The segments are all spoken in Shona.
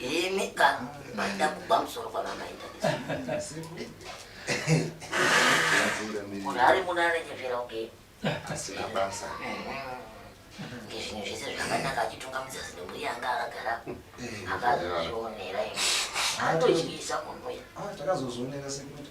Imi ka maida kugwa musoro kwamamaita. Munhu ari muno anonyepera kunge asina basa. Ngezvinhu zvese zvakanaka achitunga muzasi nemhuri yanga akagara akazozvionera imi. Anotodyisa munhu uya. Ah, takazozvionera sekuti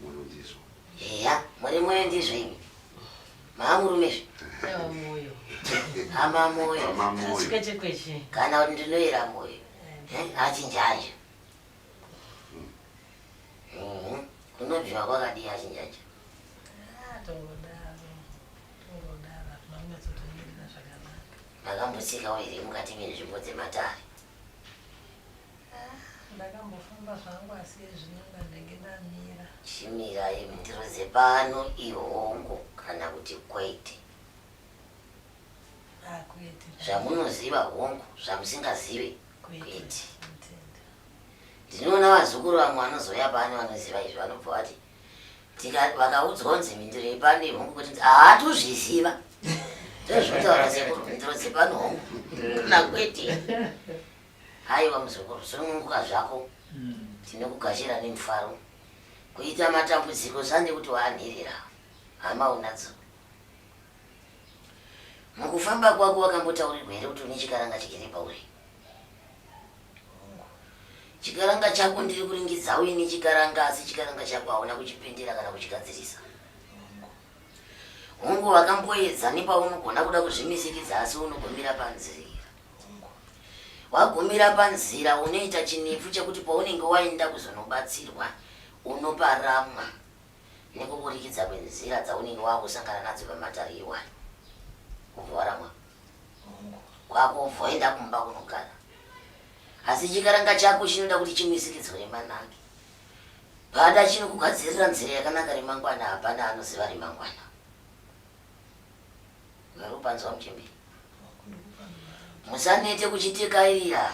Munondizwa. Eya, muri moyo ndizvo imi. Maamurume zve. Ewa moyo. Hama moyo. Hama moyo. Sikweche kweche. Kana kuti ndinoyera moyo. Eh, achinjaja. Mm. Mm. Kunobviwa kwakadii achinjaja? Ah, tongodaro. Tongodaro. Makambotsikawo here mukati menzvimbo dzematare? ndakambofamba zvangu asi ezvino ndanenge ndamira chimira imi ndiroze pano ihongu kana kuti kwete ah, zvamunoziva hongu zvamusingazive kwete ndinoona vazukuru vamwe vanozouya pano vanoziva izvi vanobva vati Tika vakaudzwa kunzi mhinduro yepano ihongu kuti haa tozviziva. Ndozvotaura sekuru mhinduro dzepano hongu. Kana kwete. Haiwa muzukuru sununguka zvako. Tinokugashira nemufaro. Kuita matambudziko zvane kuti waanhirira. Hama unadzo. Mukufamba kwako wakambotaurirwa here kuti une chikaranga chigere pauri? Hongu. Chikaranga chako ndiri kuringidza uye nechikaranga asi chikaranga chako hauna kuchipendera kana kuchigadzirisa. Hongu. Hongu wakamboedza nepaunogona kuda kuzvimisikidza asi unogomira panzira. Wagumira panzira unoita chinepfu chekuti paunenge waenda kuzonobatsirwa unoparamwa nekuburikidza kwenzira dzaunenge wakusangana nadzo pamatare iwayo kubva waramwa Hongu, kwakubva waenda kumba kunogara. Asi chikaranga chako chinoda kuti chimisikidzwe remanange. Pada chinokugadzirira nzira yakanaka remangwana hapana anoziva remangwana. Marupanzwa muchembere. Musanete kuchitekairira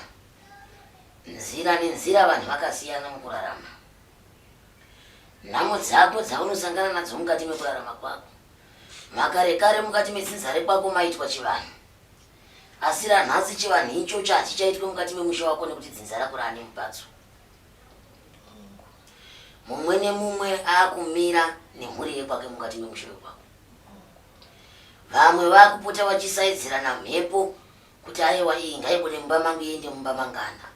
nzira nenzira vanhu vakasiyana mukurarama. Nhamo dzako dzaunosangana nadzo mukati mekurarama kwako. Makare kare mukati medzinza rekwako maitwa chivanhu. Asi ranhasi chivanhu ichocho hachichaitwe mukati memusha wako nekuti dzinza rako raane mubatso. Mumwe nemumwe akumira nemhuri yekwake mukati memusha wekwako. Vamwe vakupota vachisaidzirana mhepo kuti aiwa iyi ngaibude mumba mangu iende mumba mangana.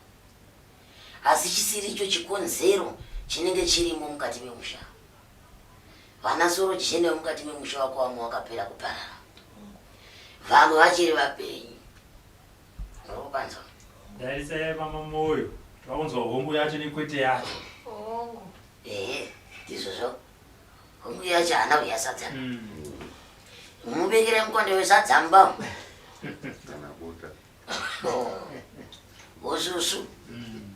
Asi chisiri icho chikonzero chinenge chirimo mukati memusha. Vana Soroji Shendewa mukati memusha wako wamwe wakapera kuparara. Vamwe vachiri vapenyu. Ndokupanzwa. Darisa yaiva mamoyo. Takunzwa hongu yacho nekwete yacho. Hongu. Ehe, ndizvozvo. Hongu yacho haana kuya sadza. Mm. Mubekere mukonde wesadza mumba. Kana bota. Osusu. Oh. Mm.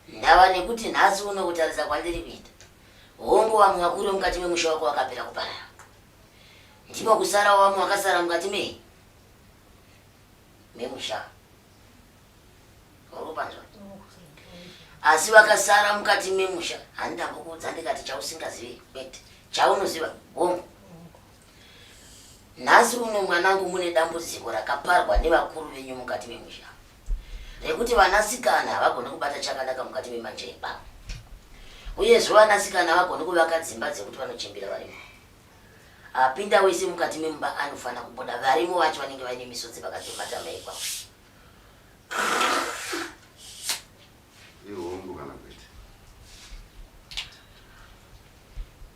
Ndava nekuti nhasi uno kutarisa kwandiri kuita, hongu vamwe vakuru vemukati memusha wako vakapera kuparara, ndimo kusarawo vamwe vakasara mukati me memusha vakupanzwa asi vakasara mukati memusha handidambokuudza ndikati chausingazivi kwete chaunoziva hongu nhasi uno mwanangu mune dambudziko rakaparwa nevakuru venyu mukati memusha Nekuti vanasikana havagoni kubata chakanaka mukati memanje ebaba. Uyezve vanasikana havagoni kuvaka dzimba dzekuti vanochembera varimo. Apinda wese mukati memumba anofanira kubuda varimo vacho vanenge vaine misodzi pakati pematama ekwavo. Ihombo kana kwete.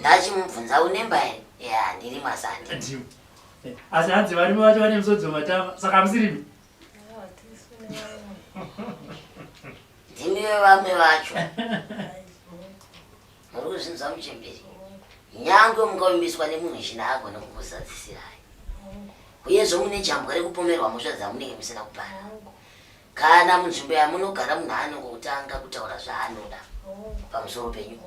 ndachimubvunza unemba here ya ndiri masandi asi hanzi varume vacho vane musodzo matama saka musirimi ndimiwe vamwe vacho muri kuzvinzwa muchemberi nyange mukavimbiswa nemunhu china agone kukuzadzisirai uyezvo mune jambwa rekupomerwa mhosva dzamunenge musina kupara Kana munzvimbo yamunogara munhu anongotanga kutaura zvaanoda pamusoro penyu.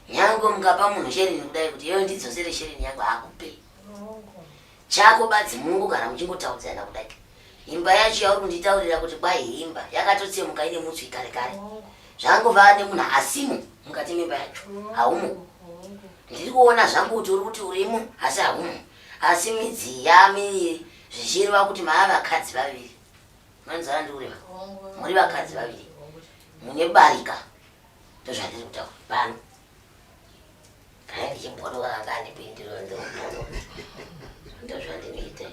Nyango mukapa munhu sherini kudai kuti iwe ndidzosere sherini yangu hakupe. Chako badzi mungu kana muchingotaudzana kudai. Imba yacho yauri kunditaurira kuti kwai imba yakatotsemuka ine mutswi kare kare. Zvangova nemunhu asimo mukati memba yacho. Haumo. Ndiri kuona zvangu kuti uri kuti urimo asi haumo. Asi midzi yamiri zvichireva kuti maava vakadzi vaviri. manzandure muri vakadzi vaviri mune barika ndozvandiri kutaura pano kana ndichibhodoka kanga andipindiro ndobhodo ndozvandinoita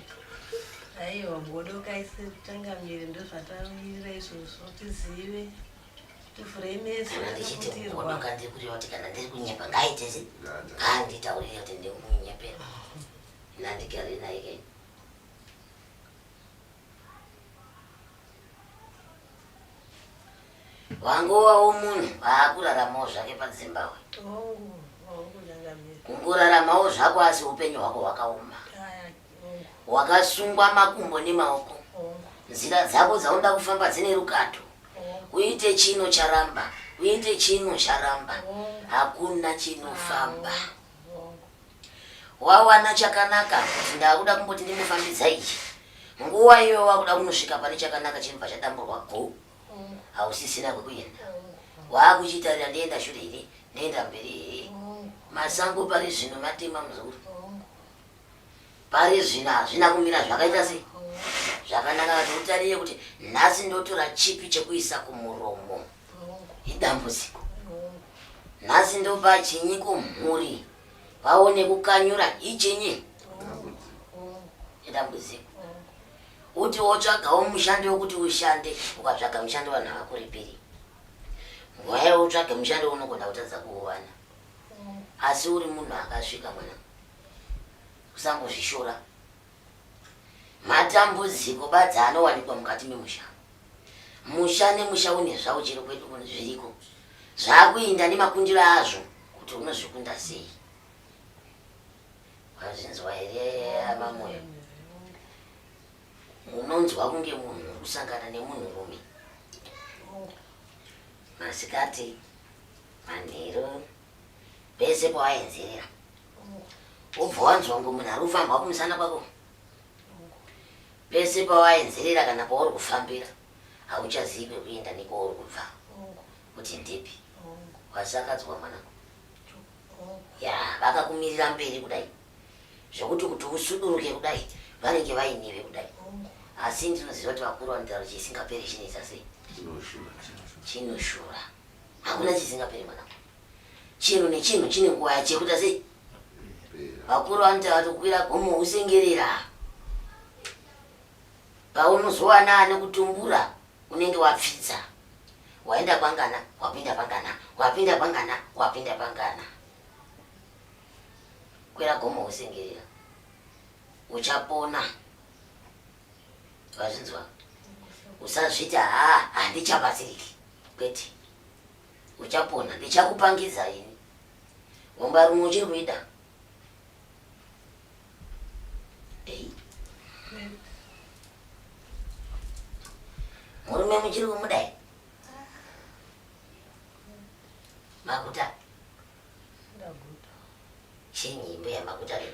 aiwa bodoka ise kutanga miri ndozvatamirira izvozvo tizive tivhurei meso ndichitibodoka ndiri kureva kuti kana ndiri kunyepa ngaitese ngaanditaurire kuti ndiri kunyepera nandigari naye kei wangowawo munhu waakuraramawo zvake padzimbabwe kungoraramawo zvako asi upenyu hwako hwakaoma wakasungwa makumbo nemaoko nzira dzako dzaunoda kufamba dzine rukato uite chino charamba uite chino charamba hakuna chinofamba wawana chakanaka kuti ndakuda kumboti ndimbofambidza ichi nguva iyo wakuda kunosvika pane chakanaka chinobva chadamburwa go hausisina kwekuenda waakuchitarira ndienda shure here ndienda mberi here masango pari zvino matema muzukuru pari zvino hazvina kumira zvakaita sei zvakanaka kuti utarire kuti nhasi ndotora chipi chekuisa kumuromo mm. idambudziko nhasi ndopachinyi kumhuri vaone kukanyura ichinyi idambudziko uti wotsvagawo mushandi wekuti ushande ukatsvaga mushandi vanhu havakuripiri nguva yavo utsvage mushandi unogona kutadza kuuwana asi uri munhu akasvika mwana usangozvishora Matambudziko badzi anowanikwa mukati memusha. Musha nemusha une zvawo chero kwedu kuno zviriko. Zvakuinda nemakundiro azvo kuti unozvikunda sei. Wazvinzwa here amamoyo? Unonzwa kunge munhu kusangana nemunhu rume. Masikati, manheru. pese pawaenzerera ubva wanzwa kunge munhu ari kufambwa kumusana kwako pese pawaenzerera kana pauri kufambira hauchazivi kwekuenda nekwauri kubva kuti ndipi wasakadzwa mwanangu ya vakakumirira mberi kudai zvekuti kuti usuduruke kudai vanenge vainive kudai asi ndinoziva kuti vakuru vanotaura chisingaperi chinoita sei chinoshura Hakuna chisingaperi mwana. Chinhu nechinhu chine nguva yacho yekuita sei? Vakuru vanoti vatokwira gomo husengerera. Paunozowana ane kutumbura unenge wapfidza. Waenda kwangana, wapinda pangana, wapinda pangana, wapinda pangana. Kwira gomo husengerera. Uchapona. Wazvinzwa? Usazviti haa handichabatsiriki. Kwete. Uchapona ndichakupangidza ini. Gomba rumwe uchiri kuida. Ei. Murume muchiri kumudai. Makuta. Ndaguta. Chenyi imbe yamakuta leo.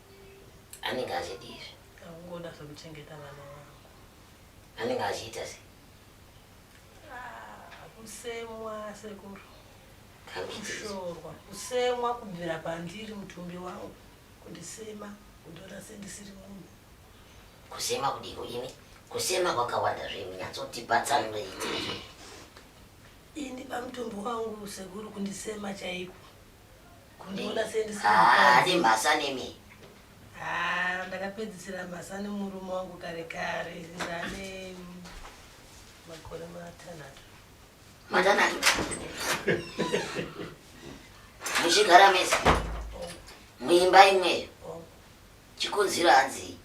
anenge achidii izvi angoda zvekuchengeta vana vangu anenge achiita sei ah, kusemwa sekuru kushorwa kusemwa kubvira pandiri mutumbi wangu kundisema kundona sendisiri munhu kusema kudiko imi kusema kwakawanda zvemi nyatsotibatsanurei ini pamutumbi wangu sekuru kundisema chaiko Kundiona sendisina Ah, mukadzi. ane mhasa nemi. Ah, ndakapedzisira mhasa nemurume wangu kare kare ndane makore matanhatu. Matanhatu. Muchigara mese. Oh, Muimba imweyo. oh, Chikonzero hanzi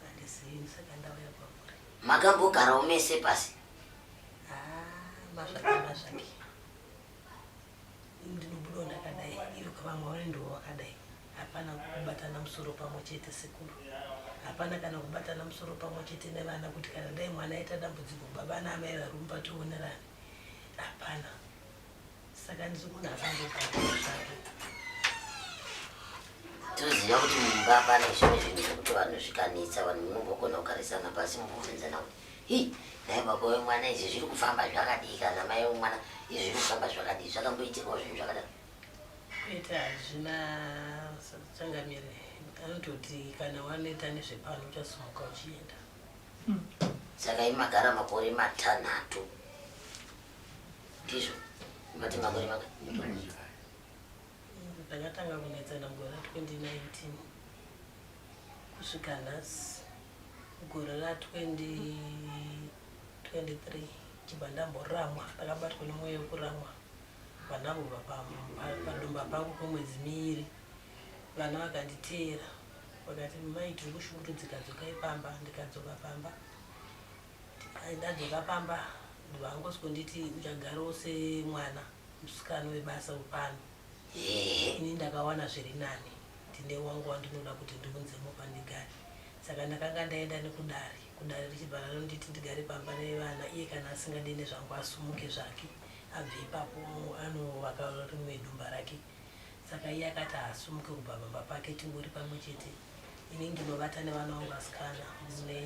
handizivi saka ndauya kwamuri. makambogarawo mese pasi. Ah, mazvake mazvake. ndinobudawo ndakadai ivo kavamwe vari ndivo vakadai hapana kubatana musoro pamwe chete sekuru hapana kana kubatana musoro pamwe chete nevana kuti kana dai mwana aita dambudziko baba naamai varumba tionerani hapana saka ndiri munhu akangogaazvake toziva kuti mumba pane zvimwe zvinhu zvekuti vanhu zvikanetsa vanhu munombogona kugarisana pasi mubvunzana kuti Hi, dai baba wemwana izvi zviri kufamba zvakadii kana mai wemwana izvi zviri kufamba zvakadii zvakamboitirwa zvinhu zvakadaro kuita hazvina changamire anototi kana waneta nezvepano uchasumuka uchienda hmm. saka imagara makore matanhatu ndizvo mati makore maka ndakatanga kunetsana mugore 2019 kusvika nhasi Gore ra 2023 chibva ndamboramwa ndakabatwa nemweya wekuramwa vana avo padumba pangu kwemwedzi miiri vana vakanditeera vakati mai tiri kushungurudzika dzokai pamba ndikadzoka pamba ndadzoka pamba ndivangosiko nditi uchagarawo semwana musikana webasa wepano ini ndakawana zviri nani ndine wangu wandinoda kuti ndiunzemo pandigare saka ndakanga ndaenda nekudare kudare richibva ranonditi ndigare pamba nevana iye kana asingadi nezvangu asumuke zvake abve ipapo anovaka rimwe dumba rake saka iye akati haasumuke kubva pamba pake tingori pamwe chete ini ndinovata nevana vangu asikana mune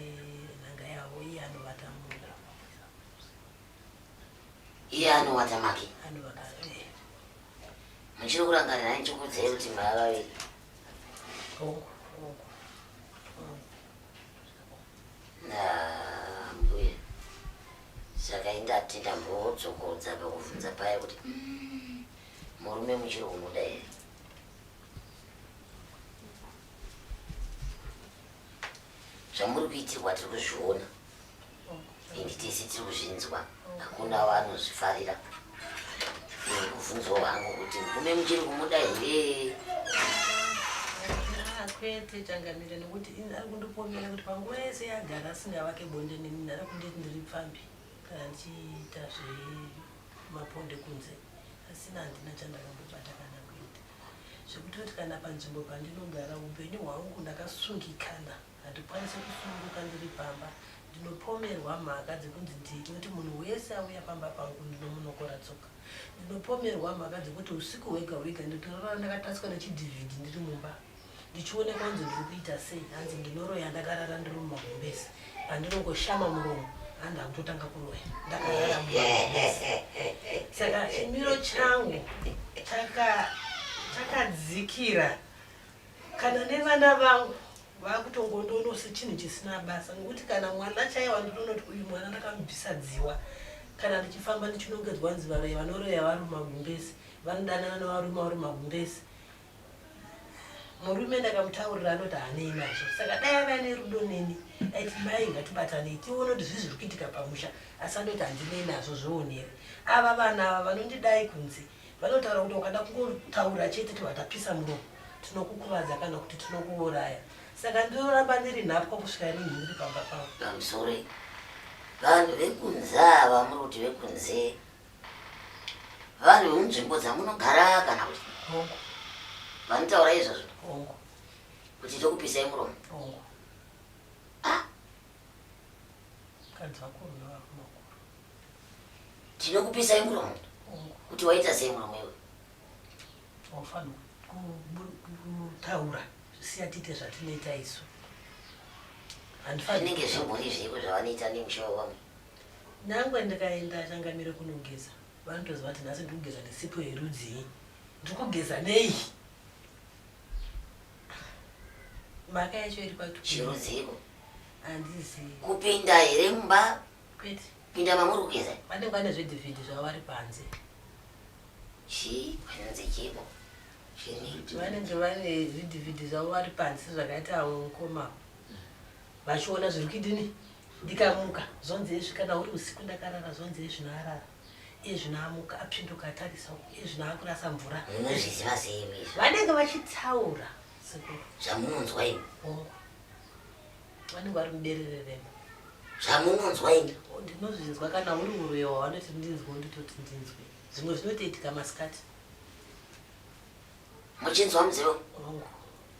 nhanga yavo iye anovata mumba iye anowacha make muchiri kurangarira nai chikudzei kuti maya vaviri ndambuya saka indati ndambodzokodza pakuvhunza paya kuti mm, murume muchiri kumuda here zvamuri kuitirwa tiri kuzviona and tese tiri kuzvinzwa hakuna vanozvifarira kuvhunzwa hangu kuti murume muchiri kumuda here kwete changamire nokuti ini ari kundipomera kuti panguva yese yagara asingavake bonde nemini ari kunditi ndiri pfambi kana ndichiita zvemaponde kunze asina handina chandakambobata kana kuita zvekuti kuti kana panzvimbo pandinogara upenyu hwangu ndakasungikana Handikwanise kusununguka ndiri pamba. Ndinopomerwa mhaka dzekunzi ndini nekuti munhu wese auya pamba pangu ndinomunokora tsoka. Ndinopomerwa mhaka dzekuti husiku hwega hwega ndinotorara ndakatatswa nechidhivhidhi ndiri mumba ndichionekwa kunzi ndiri kuita sei hanzi ndinoroya ndakarara ndiri mumagumbezi pandinongoshama muromo hanzi akutotanga kuroya ndakarara mumagumbezi saka chimiro changu chakadzikira Kana nevana vangu vakutongondono sechinhu chisina basa ngokuti kana mwana chaiye wandinonoti uyu mwana ndakamubvisa dziwa kana ndichifamba ndichinongedzwa nzi varoyi vanoroya vari magumbezi vanodanana nevarume vari magumbezi murume ndakamutaurira anoti hanei nazvo saka dai ava ne rudo neni aiti mai ngatibatanei tione kuti zvii zviri kuitika pamusha asi andoti handinei nazvo zvionere ava vana ava vanondidai kunzi Vanotaura kuti ukada kungotaura chete kuti watapisa muromo tinokukuvadza kana kuti tinokuuraya saka ndinoramba ndiri nhapwa kusvika rinhi ndiri pamba pavo amsore vanhu vekunze ava muri kuti vekunze vanhu vemunzvimbo dzamunogara kana kuti hongu vanotaura izvozvo hongu kuti tokupisai muromo hongu tinokupisai muromo kuti waita sei muromo iwe waufanira kutaura siya tiite zvatinoita isu zvinenge zvimbori zveiko zvavanoita nemusha wevamwe nangwe ndikaenda changamire kunogeza vanotoziva kuti nhasi ndikugeza nesipo yerudzii ndikugeza nei Mhaka yacho iri kwatu. Chirudziko. Andizi. Kupinda here mumba? Kwete. Pinda mamuri kugeza. Pane kwane zve David zvavo vari panze. Chi kwanze chipo. Chini. Vanenge vane zvidividi zvavo vari panze zvakaita avo mukoma. Vachiona zviri kuidini? Ndikamuka zvonzi ezvi kana uri usiku ndakarara zvonzi ezvi narara. iye zvino amuka apinduka atarisa uko iye zvino akurasa mvura munozviziva sei imi izvo vanenge vachitaura sekuru zvamunonzwa imi hongu vanenge vari muberere rema zvamunonzwa imi Oh, ndinozvinzwa kana uri uroyo wavanoti ndinzwe nditoti ndinzwe zvimwe zvinotoitika masikati muchinzwa mudziyo hongu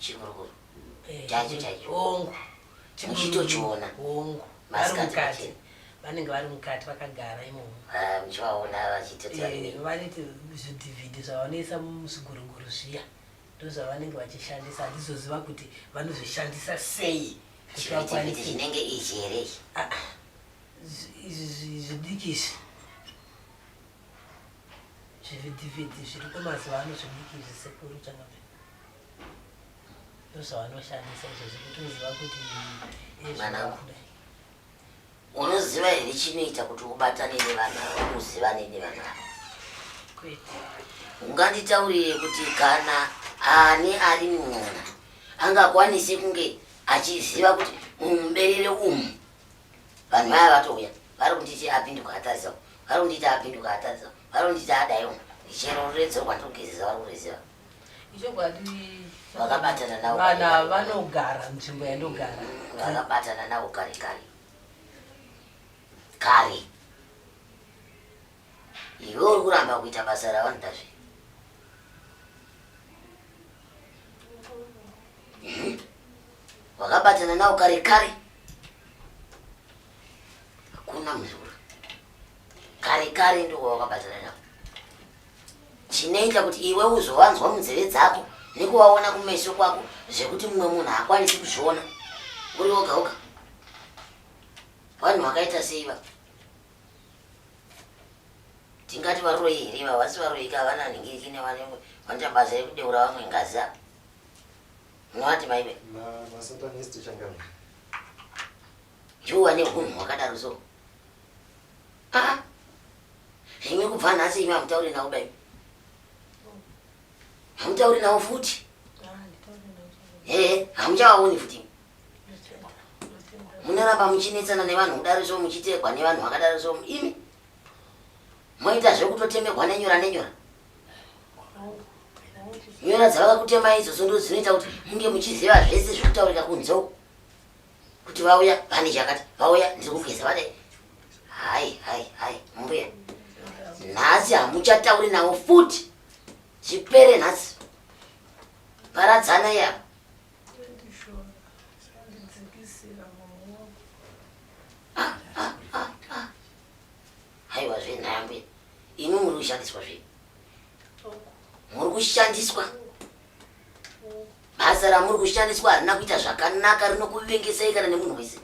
chikurukuru eh, chaicho chaicho hongu muchitochiona hongu vari mukati vanenge vari mukati vakagara imomo ah, muchivaona vachitotivaniti eh, zvidhivhidhi zvavanoisa muzviguruguru zviya ndozvavanenge vachishandisa handizoziva kuti vanozvishandisa sei kuti vakwanise zvinenge izvi here izvi ah, ah, zvidiki izvi zvivhidhivhidhi zviriko mazuva ano zvidiki zvisekuru chakabva ndozvavanoshandisa izvozvo kuti uziva kuti mwanangu unoziva here chinoita kuti ubatane nevanhu ava uzivane nevanhu ava kwete unganditaurire kuti kana ani ari mwana angakwanise kunge achiziva kuti mumuberere umu Vanhu vaya vatouya vari kunditi apinduka atadza uku, vari kunditi apinduka atadza uku, vari kunditi adai uku, chero ruredzo rwandiri kugezesa vari kuruziva. Ichokwadi Vakabatana navo vanhu kare ava kare. vanogara munzvimbo yandogara. Vakabatana navo kare kare. Kare. Iwe uri kuramba kuita basa ravanoda zve. Mhm. Wakabatana nawo kare kare. Hakuna muzukuru. Kare kare ndiwo wakabatana nawo. Chinoita kuti iwe uzowanzwa munzeve dzako nekuwaona kumeso kwako zvekuti mumwe munhu haakwanisi kuzviona uri woga woga. Vanhu vakaita sei va? Tingati varoyi here ivavo? Vasi varoyi ka vana ningiriki ne vane vanoita basa rekudeura vamwe ngazi apa. Munowati vaive? Masatanist changami. Juu ane hunhu hwakadaro so. Ah. Imi kubva nhasi imi hamutauri nawo dai. Hamutauri nawo futi. Eh, hamuchawaoni futi. Munoramba muchinetsana nevanhu kudaro so muchitekwa nevanhu vakadaro so imi. Moita zvekutotemegwa nenyora nenyora. Yona dzavaka kutema idzo sondo dzinoita kuti munge muchiziva zvese zviri kutaurika kunze uku kuti vauya vane chakati vauya ndiri kugeza vane hai hai hai mbuya nhasi hamuchatauri navo futi zvipere nhasi paradzana yavo Haiwa zve nhambwe imwe muri kushandiswa zve muri kushandiswa basa ramuri kushandiswa harina kuita zvakanaka rinokuvengesai kana nemunhu wese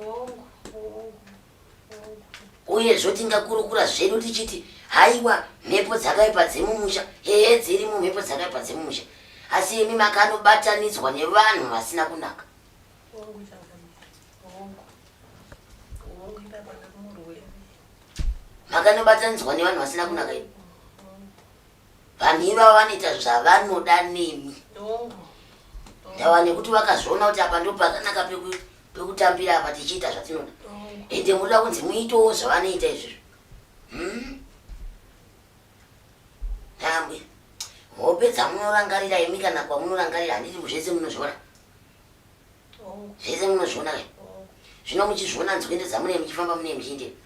uye zvotingakurukura zvedu tichiti haiwa mhepo dzakaipa dzemumusha heye dziri mumhepo dzakaipa dzemumusha asi imi makanobatanidzwa nevanhu vasina kunaka makanobatanidzwa nevanhu vasina kunaka imi vanhu ivavo vanoita zvavanoda nemi ndava nekuti vakazviona kuti apa ndopakanaka pekutambira apa tichiita zvatinoda ende munoda kunzi muitewo zvavanoita izvizvo hmm? tambwe hope dzamunorangarira imi kana kwamunorangarira handiti muzvese munozviona zvese munozviona ka zvino muchizviona nzwendo dzamunei muchifamba munei muchiindei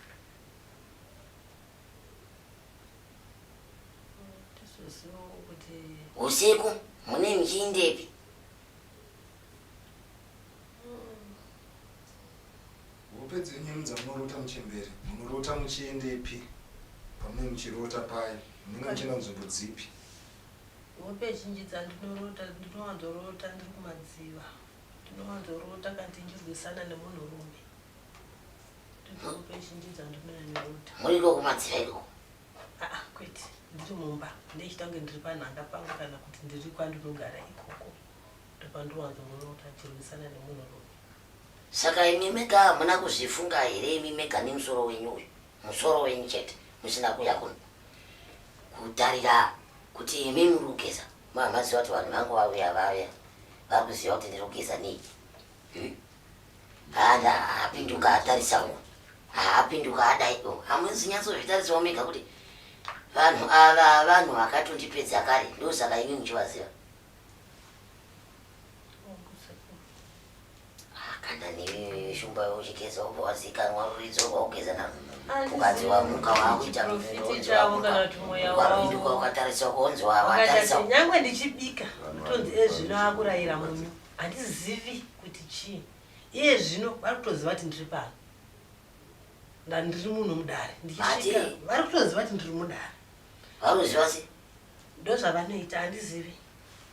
usiku munei muchiindepi hope dzenyu mudza munorota muchembere munorota muchiendepi pamunei muchirota paye munenge muchienda nzvimbo dzipi Hope zhinji dzandinorota ndinowanzorota ndiri kumadziva. Ndinowanzorota kana tichinzwisana nemunhu rume. Ndidzo hope zhinji dzandinonyanyorota. Muri iko kumadziva iko? Aa kwete ndiri mumba ndechita kunge ndiri panhanga pangu kana kuti ndiri kwandinogara ikoko ndopandinowanzorota ndichirwisana nemunhu rume. Saka imi mega hamuna kuzvifunga here imi mega nemusoro wenyu uyu? musoro wenyu chete musina kuuya kuno kutarira kuti imi muri kugeza mamaziva kuti vanhu vangu vauya vauya vari kuziva kuti ndiri kugeza nei hmm? hana haapinduka atarisa uko haapinduka adai o hamuzi nyatsozvitarisawo mega kuti vanhu ava vanhu vakatondipedza kare ndosaka imi muchivaziva kana newe shumba uchigeza ubva wazikanwa ruridzo ubva ugeza na mukadzi wamuka wakuita muvindukwa ukatarisa kunzi watarisinyangwe ndichibika tonzi ezvino eh, akurayira munyu handizivi kuti chii iye zvino vari kutoziva kuti ndiri pano ndandiri muno mudare ndichisvika vari kutoziva kuti ndiri mudare varuziva se ndozvavanoita handizivi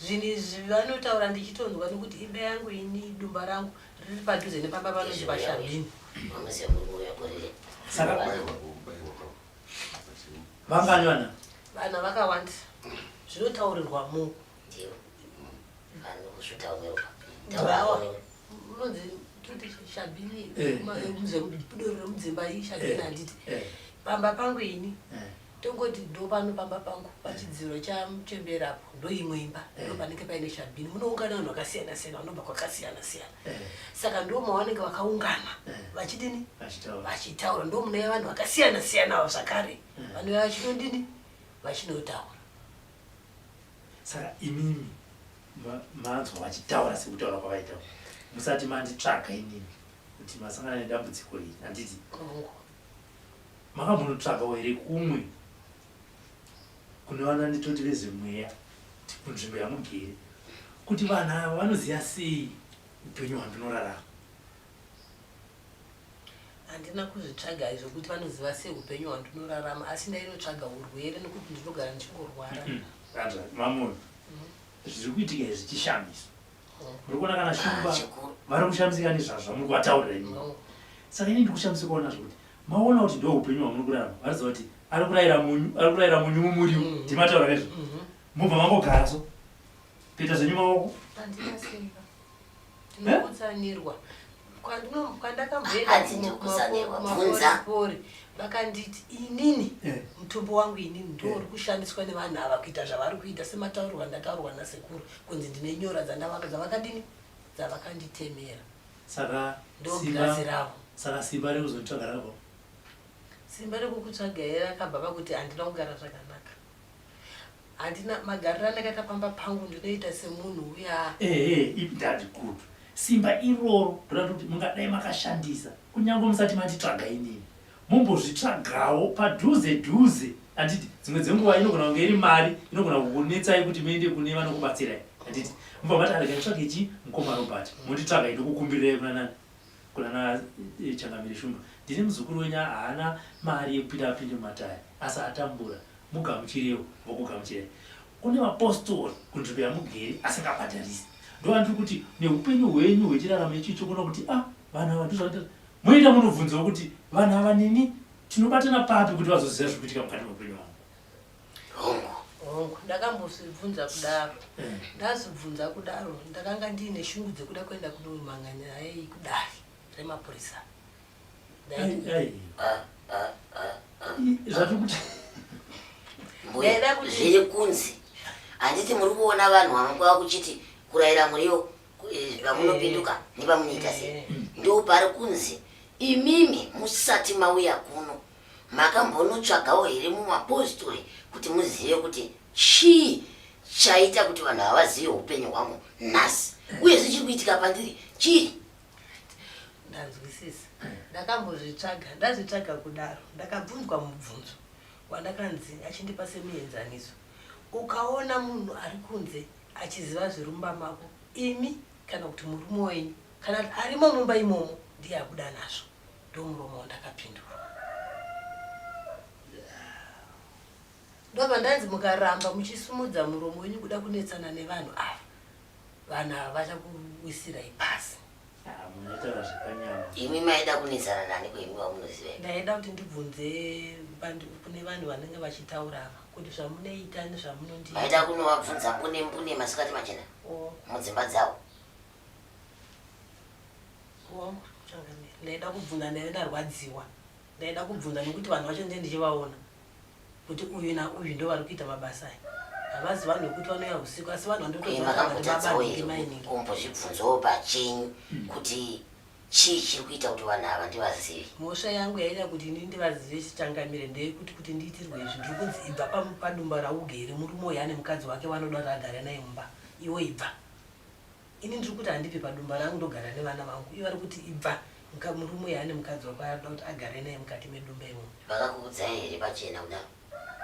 Zvinhu izvi vanotaura ndichitonzwa nokuti imba yangu ini dumba rangu riri padhuze nepamba panonzi paShabin. Saka vangani vana? Vana vakawanda zvinotaurirwa mu Taurawa. Unonzi toti Shabin Eh, eh. muzemudoro remudzimba iyi Shabin Eh, handiti. eh, Pamba pangu ini eh. Tongoti ndopano pamba pangu pachidziro chamuchembere apo ndoimwe imba eh. ndopanenge paine chabhini munoungana vanhu vakasiyana siyana vanobva kwakasiyana siyana eh. saka ndo mavanenge vakaungana eh. vachidini vachitaura ndo munouya vanhu vakasiyana siyana avo zvakare vanouya vachinodini vachinotaura saka imimi manzwa vachitaura sekutaura kwavaita musati manditsvaga inini kuti masangana nedambudziko iri handiti Makambonotsvagawo here kumwe kune vananditoti vezvemweya kunzvimbo yamugere kuti vanhu ava vanoziva sei upenyu hwandinorarama? Handina kuzvitsvaga izvo kuti vanoziva sei upenyu hwandinorarama asi ndainotsvaga urwere nokuti ndinogara ndichingorwara. Hanzvadzi, mamona, zviri kuitika izvi chishamisa. murikuona kana shumba vari kushamisika nezvazvo muri kuvataurira imi saka ini ndikushamisika kuona zvokuti maona kuti ndo upenyu hwamuri kurarama vanoziva kuti ari kurayira munyu ari kurayira munyu mumuriwo mm-hmm. ndimataura kaizvo mm-hmm. mubva mangogara so kuita zvenyu maoko eh? kwandakamboendakumaporipori vakanditi inini eh. mutumbo wangu inini ndouri eh. kushandiswa nevanhu ava kuita zvavari kuita semataurirwa ndataurwa nasekuru kunzi ndine nyora dzandavaka dzavakadini dzavakanditemera saka ndogirazi ravo saka simba rekuzotsvaga ravo simba rekukutsvaga here rakabva vakuti handina kugara zvakanaka Handina magariro andakaita pamba pangu ndinoita semunhu uya. Ehe, ip dad good. Simba iroro ndoda kuti mungadai makashandisa kunyange musati manditsvaga inini. Mumbozvitsvagawo padhuze dhuze handiti? Dzimwe dzenguva inogona kunge iri mari inogona kukunetsai kuti muende kune vanokubatsirai handiti? Mubva mati regai nditsvage chii mukoma Robert. Monditsvagai ndokukumbirirai kuna nani? Kunana eh, Changamire Shumba ndini muzukuru wenyu haana mari yekupinda apinde mumatare asi atambura mugamuchirewo vokugamuchirai. Kune mapostori kunzvimbo yamugeri asingabhadharisi ndovandiri kuti neupenyu hwenyu hwechiraramo ichi chokuona kuti a ah, vanhu ava ndozvaa moita munobvunzawo kuti vanhu ava nini tinobatana papi kuti vazoziva zviri kuitika mukati meupenyu hwavo. hongu hongu ndakambozvibvunza kudaro mm. ndazvibvunza kudaro ndakanga ndiine shungu dzekuda kuenda kunomhanga nyaya iyi kudari remapurisa zviri kunzi handiti muri kuona vanhu vamangwava kuchiti kurayira muriwo eh, vamunopinduka eh. nevamunoita sei eh. ndo pari kunzi imimi musati mauya kuno Makambonotsvagawo here mumapositori kuti muzive kuti chii chaita kuti vanhu ava vazive upenyu hwangu nhasi uye zvichiri kuitika pandiri chii? Ndanzwisisa. Ndakambozvitsvaga, ndazvitsvaga kudaro. Ndakabvunzwa mubvunzo wandakanzi achindipa semuenzaniso. Ukaona munhu ari kunze achiziva zverumba mako imi kana kuti murume wenyu kana kuti arimo mumba imomo ndiye abuda nazvo. ndomuromo wandakapindura ndobva ndanzi mukaramba muchisumudza muromo wenyu kuda kunetsana nevanhu ava vanhu ava vachakuwisirai pasi imi maida kunetsana nani kwenyu vamunoziva ndaida kuti ndibvunze kune vanhu vanenge vachitaura ava kuti zvamunoita nezvamunondi maida kunovabvunza mbune mbune masikati machena oh. mudzimba dzavo ndaida kubvunza ndaive ndarwadziwa ndaida kubvunza nekuti vanhu vacho ndee ndichivaona kuti uyu nauyu ndo vari kuita mabasa aya havazi vanhu vekuti vanouya usiku asi vanhu vandotoaombozvibvunzawo pachenyu kuti chii chiri kuita kuti vanhu ava ndivazivi mhosva yangu yaita kuti ini ndivazive chichangamire ndeyekuti kuti ndiitirwe izvi ndiri kunzi ibva padumba raugere murume uyo ane mukadzi wake vanoda kuti agare naye mumba iwo ibva Ini ndiri kuti handipe padumba rangu ndogara nevana vangu iye ari kuti ibva muka murume uyo ane mukadzi wako anoda kuti agare naye mukati medumba imomo. Vakakuudzai here pachena kudaro?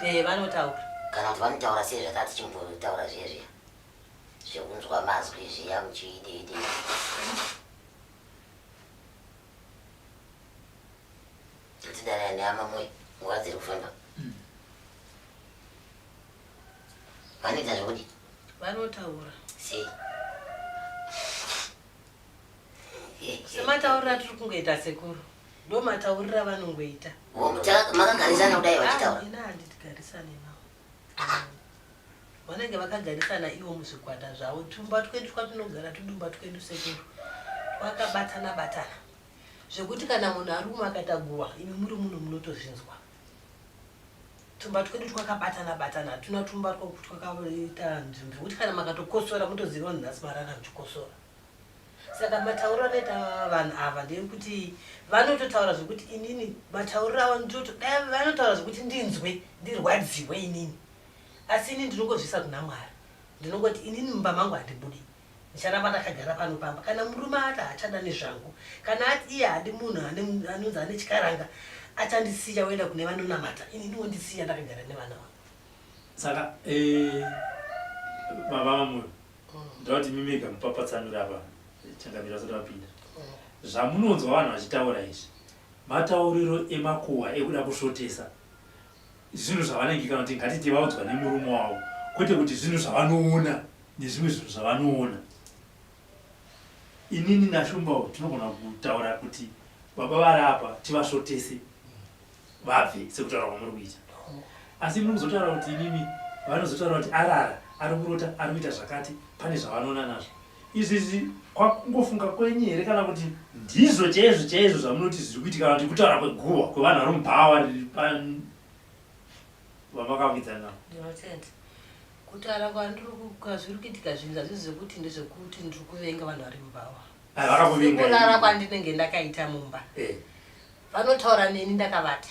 Ehe vanotaura. Kana kuti vanotaura sei zvatati chimbotaura zviye zviya zvekunzwa mazwi zviya muchiideidei. Tidanai nehama moyo nguva dziri kufamba. Vanoita zvekudii? vanotaura sei semataurira tiri kungoita sekuru ndo mataurira vanongoita makagarisana kudai vachitaura ah, ina handitigarisane navo ah. vanenge vakagarisana ivo muzvikwata zvavo tumba twedu twatinogara tudumba twedu sekuru twakabatana batana zvekuti kana munhu ari umwe akatagurwa imi muri munhu munotozvinzwa tumba twedu twakabatana batana hatuna tumba twakuti twakaita nzvimbo zvekuti kana makatokosora mutoziva vanhu nhasi marara muchikosora saka matauriro anoita vanhu ava ndeyekuti vanototaura zvekuti inini matauriro avo nditoto dai vanotaura zvekuti ndinzwe ndirwadziwe inini asi ini ndinongozvisa kuna mwari ndinongoti inini mumba mangu handibudi Ndicharamba ndakagara pano pamba kana murume ati haachada nezvangu. Kana ati iye haadi munhu anonzi ane chikaranga achandisiya oenda kune vanonamata ini ndiwondisiya ndakagara nevana vangu. Saka eh, baba vamwe ndoda kuti mimega mupapatsanure apa changamira vasati vapinda zvamunonzwa vanhu vachitaura izvi matauriro emakuhwa ekuda kusvotesa zvinhu zvavanenge kana kuti ngatiti vaudzwa nemurume wavo kwete kuti zvinhu zvavanoona nezvimwe zvinhu zvavanoona inini nashumbawo tinogona kutaura kuti baba vari apa tivasvotese vabve sekutaura kwamuri kuita asi muri kuzotaura kuti inini vanozotaura kuti arara ari kurota ari kuita zvakati pane zvavanoona nazvo Izvizvi kwakungofunga kwenyu here kana kuti ndizvo chaizvo chaizvo zvamunoti zviri kuitika kana kuti kutaura kweguhwa kwevanhu vari mubhawa riri pa vamakavidzana? Ndinotenda. Kutaura kwandiri kwazviri kuitika zvinhu hazvisi zvekuti ndezvekuti ndiri kuvenga vanhu vari mubhawa. Ah, vakakuvinga. Kurara kwandinenge ndakaita mumba. Eh. Vanotaura neni ndakavata.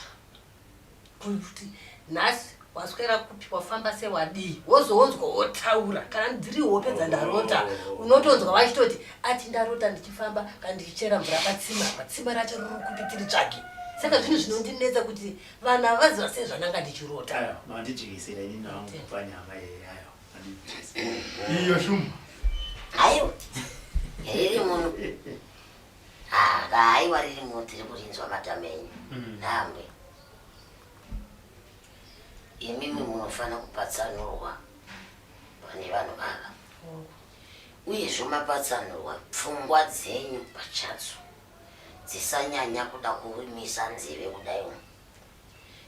Bvunza kuti nhasi waswera kupi wafamba sei wadii wozonzwa wotaura kana dziri hope dzandarota unotonzwa vachitoti ati ndarota ndichifamba kana ndichichera mvura patsima apa tsima racho riri kupi tiri tsvage saka zvinhu zvinondinetsa kuti vanhu havaziva sei zvandanga ndichirota Ayo, mandijekesera ini nangu kupa nyama yeye ayo. Mandijekesera. Iyo shumba. Ayo. Iri munhu. Haa ka haiwa ririmo tiri kurinzwa matama enyu mm. nhambwe imimi munofanira kupatsanurwa pane vanhu ava uyezvo mapatsanurwa pfungwa dzenyu pachadzo dzisanyanya kuda kurimisa nzeve kudai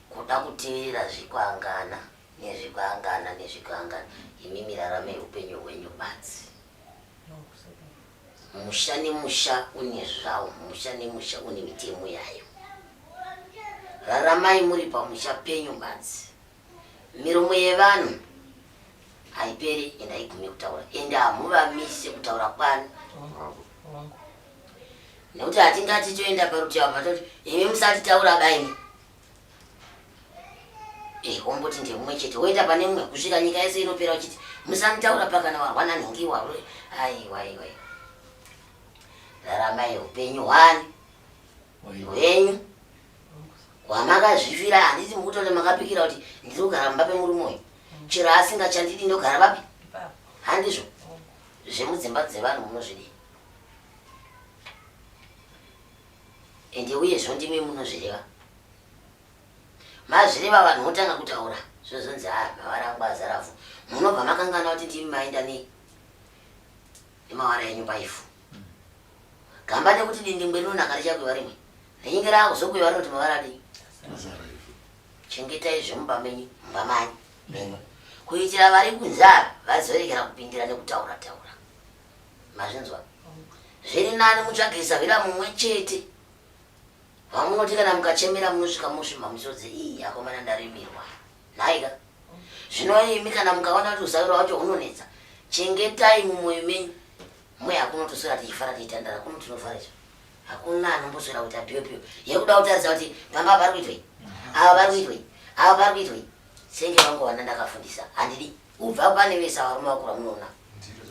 kuda kuteerera zvikwangana nezvikwangana nezvikwangana imimi raramai upenyu hwenyu badzi Musha nemusha une zvawo, musha nemusha une mitemo yayo. Raramai muri pamusha penyu badzi. Miromo yevanhu haiperi and haigume kutaura and hamuvamise kutaura kwani nekuti hatingati toenda parutivi apa toti imi musatitaura baini Eh, womboti ndiye mumwe chete woenda pane mumwe kusvika nyika yese inopera uchiti musanitaura pakana warwa nanhingi warwe aiwa iwa raramai upenyu hwani hwenyu hwamakazvifira handiti mukutoti makapikira kuti ndiri kugara mumba pemurume uyu chero asingachandidi ndogara vapi handizvo zvemudzimba dzevanhu munozvidii Ende uye zvondimi munozvireva. Mazvireva vanhu votanga kutaura zvozonzi haa ah, mawara angu azara vhu. Munobva makangana kuti ndimi maenda ne nemawara enyu paifu. Gamba nekuti dindingwe rinonaka richakuiva rimwe. Rinyinge raakuzokuiva rinoti mawara adii. Chengetai zvemumba menyu mumba manyu menyu kuitira vari kunzara vazoregera kupindira nekutaura taura. mazvinzwa zviri nani mutsvage zavira mumwe chete vamunoti kana mukachemera munosvika mosvimha musodzi ii akomana ndarimirwa nhaika zvino imi kana mukaona kuti uzaviro wacho hunonetsa chengetai mumwoyo menyu mwe hakuno toswera tichifara tiitandara kuno tinovhara izvo hakuna anomboswera kuti abiwepiwe yekuda kutarisa kuti pamba pari kuitwei ava pari kuitwei ava pari kuitwei senge vangu vana ndakafundisa handidi Kubva pane vese ava varume vakura munoona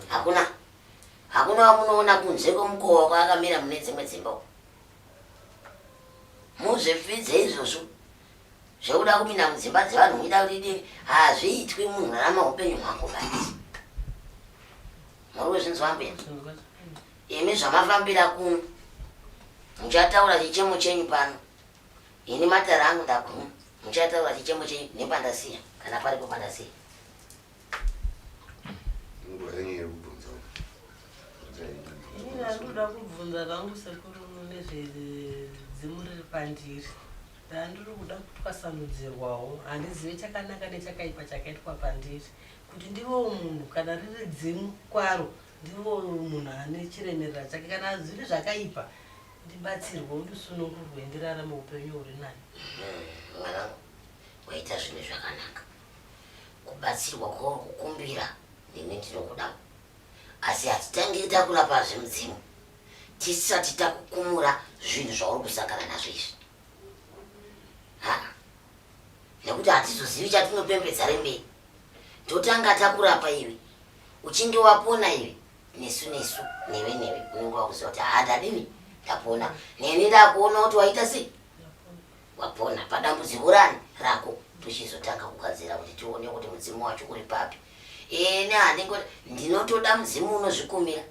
hakuna hakuna wamunoona kunze kwemukova wako akamira mune dzimwe dzimba uko muzvipfidze izvozvo zvekuda kupinda mudzimba dzevanhu muchida kuti dii hazviitwi munhu rarama upenyu hwako basi muri kuzvinzwa mbuya imi zvamafambira kuno muchataura chichemo chenyu pano Ini matare angu ndaguma. Muchataura chichemo chenyu nepandasiya kana paripo pandasiya. Nguva yenyu yekubvunza. Ini ndandoda kubvunza vangu sekuru nezvedzimu riri pandiri. Ndandiri kuda kutwasanudzirwawo. Handizive chakanaka nechakaipa chakaitwa pandiri. Kuti ndivewo munhu kana riri dzimu kwaro. Ndivo munhu ane chiremerera chake kana zviri zvakaipa ndibatsirwe undisunungurwe ndirarame upenyu huri nani. Hmm, mwanangu waita zvinhu zvakanaka kubatsirwa kwauri kukumbira nemi ndinokudawo asi hatitangiri takurapa zvemudzimu tisati takukumura zvinhu zvauri kusangana nazvo izvi nekuti hatizozivi chatinopembedza rembei totanga takurapa iwe Uchinge wapona iwe nesu nesu newe newe unenge wakuziva kuti haa ndadini ndapona neni ndakuona kuti waita sei wapona padambudziko rani rako tochizotanga kugadzira kuti tione kuti mudzimu wacho uri papi ene handingo ndinotoda mudzimu unozvikumira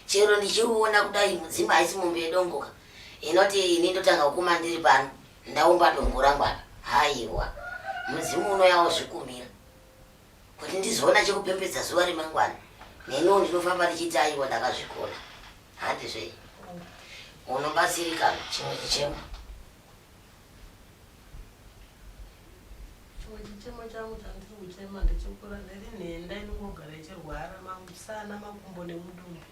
chero ndichiuona kudai mudzimu haisi mombe yedongoka inoti ini ndotanga kukuma ndiri pano ndaumba dongo rangu apa haiwa mudzimu unouya wozvikumira kuti ndizoona chekupembedza zuva remangwana neniwo ndinofamba ndichiti aiwa ndakazvikona handi zvei unobatsirikana chimwe chichemo chimwe chichemo changu chandiri kuchema ndechekura ndiri nhenda inongogara ichirwara mamusana makumbo nemudumbu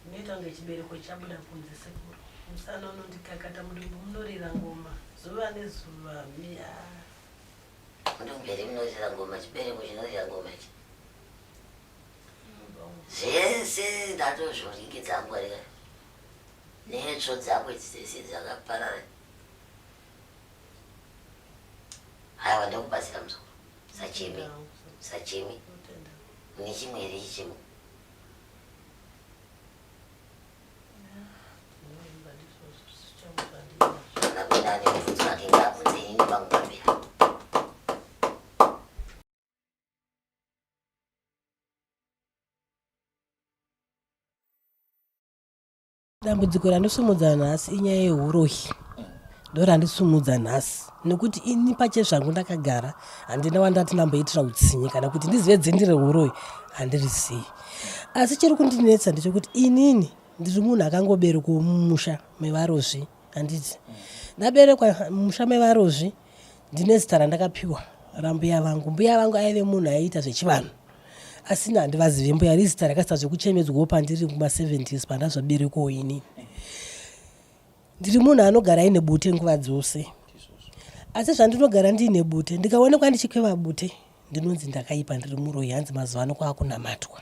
inoita kunge chibereko chabuda kunze sekuru musana unondikakata mudumbu munorira ngoma zuva nezuva miyaa Ndomberi munorira ngoma chibereko chinorira ngoma ichi. Zvese ndatozvoringidza ngwarira. Netsvo dzako idzi dzese dzakaparara. Haiwa ndokubatsira muzukuru. Sachimi. Sachimi. Mune chimwe here chichemo? dambudziko randosumudza nhasi inyaya yehurohi ndorandisumudza nhasi nekuti ini pache zvangu ndakagara handina wandati ndamboitira utsinye kana kuti ndizive dzendi rehuroyi handirisii asi chiri kundinetsa ndechekuti inini ndiri munhu akangoberekwa mumusha mevarozvi handiti ndaberekwa mumusha mevarozvi ndine zita randakapiwa rambuya vangu mbuya vangu aive munhu aiita zvechivanhu asina handivazive mbuya rizita rakasita zvekuchemedzwawo pandiri kuma 70s pandazoberekwawo inini ndiri munhu anogara aine bute nguva dzose asi zvandinogara ndiine bute ndikaonekwa ndichikweva bute ndinonzi ndakaipa ndiri muroyi hanzi mazuva ano kwaakunamatwa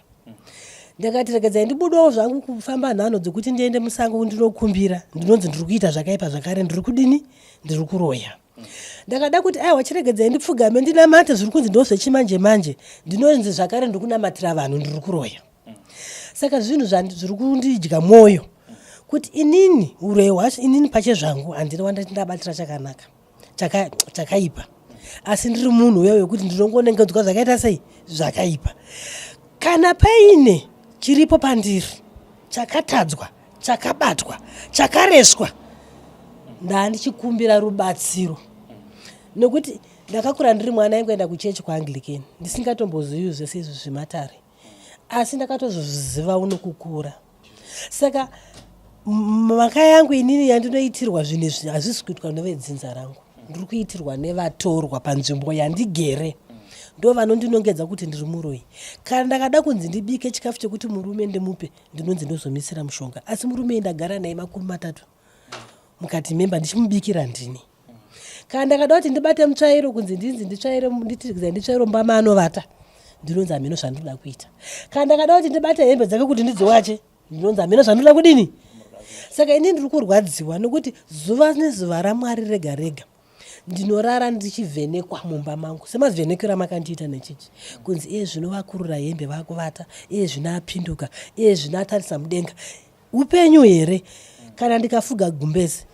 ndakati regedzai ndibudawo zvangu kufamba nhano dzekuti ndiende musango ndinokumbira ndinonzi ndiri kuita zvakaipa zvakare ndiri kudini ndiri kuroya ndakada kuti aiwa chiregedzai ndipfugame ndinamate zviri kunzi ndo zvechimanje manje ndinonzi zvakare ndiri kunamatira vanhu ndiri kuroya saka zvinhu zviri kundidya mwoyo kuti inini uroi hwacho inini pache zvangu handiri wandati ndabatira chakanaka chakaipa asi ndiri munhu uya wekuti ndinongonengedzwa zvakaita sei zvakaipa kana paine chiripo pandiri chakatadzwa chakabatwa chakareswa ndaandichikumbira rubatsiro nekuti ndakakura ndiri mwana aingoenda kuchechi kwaanglicani ndisingatombozivi zvese izvi zvematare asi ndakatozozviziva uno kukura saka mhaka yangu inini yandinoitirwa zvinhu izvi hazvisi kuitwa nevedzinza rangu ndiri kuitirwa nevatorwa panzvimbo yandigere ndo vanondinongedza kuti ndiri muroyi kana ndakada kunzi ndibike chikafu chekuti murume ndimupe ndinonzi ndozomisira mushonga asi murume ndagara naye makumi matatu mukati memba ndichimubikira ndini kana ndakada kuti ndibate mutsvairo kunzi ndinzi nditsvaire nditikiza nditsvairo mba maanovata ndinonzi hameno zvandinoda kuita kana ndakada kuti ndibate hembe dzake kuti ndidziwache ndinonzi hameno zvandinoda kudini saka ini ndiri kurwadziwa nokuti zuva nezuva ramwari rega rega ndinorara ndichivhenekwa mumba mangu semavhenekero amakandiita nechichi kunzi iye zvino vakurura hembe vakuvata iye zvino apinduka iye zvino atarisa mudenga upenyu here kana ndikafuga gumbezi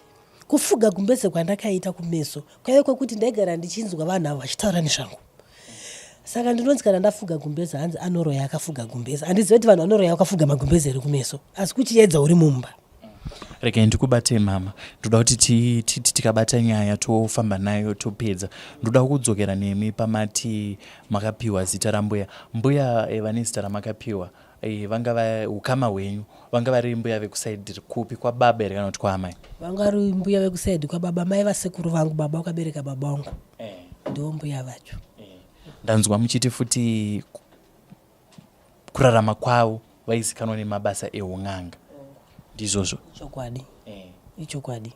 Kufuga gumbeze kwandakaita kumeso kwaive kwekuti ndaigara ndichinzwa vanhu avo vachitaura nezvangu saka ndinonzi kana ndafuga gumbeze hanzi anoroya akafuga gumbeze handizive kuti vanhu vanoroya vakafuga magumbeze ere kumeso asi kuchiedza uri mumba rega ndikubate mama ndoda kuti titi tikabata nyaya tofamba nayo topedza ndoda kudzokera nemi pamati makapiwa zita rambuya mbuya eva nezita ramakapiwa Eh, vanga va ukama hwenyu vanga vari mbuya vekusaidi kupi kwababa here kana kuti kwaamai vanga vari mbuya vekusaidi kwababa mai vasekuru vangu baba wakabereka baba wangu eh. ndiwo mbuya vacho eh. ndanzwa muchiti futi kurarama kwavo vaizikanwa nemabasa eun'anga ndizvozvo chokwadi ichokwadi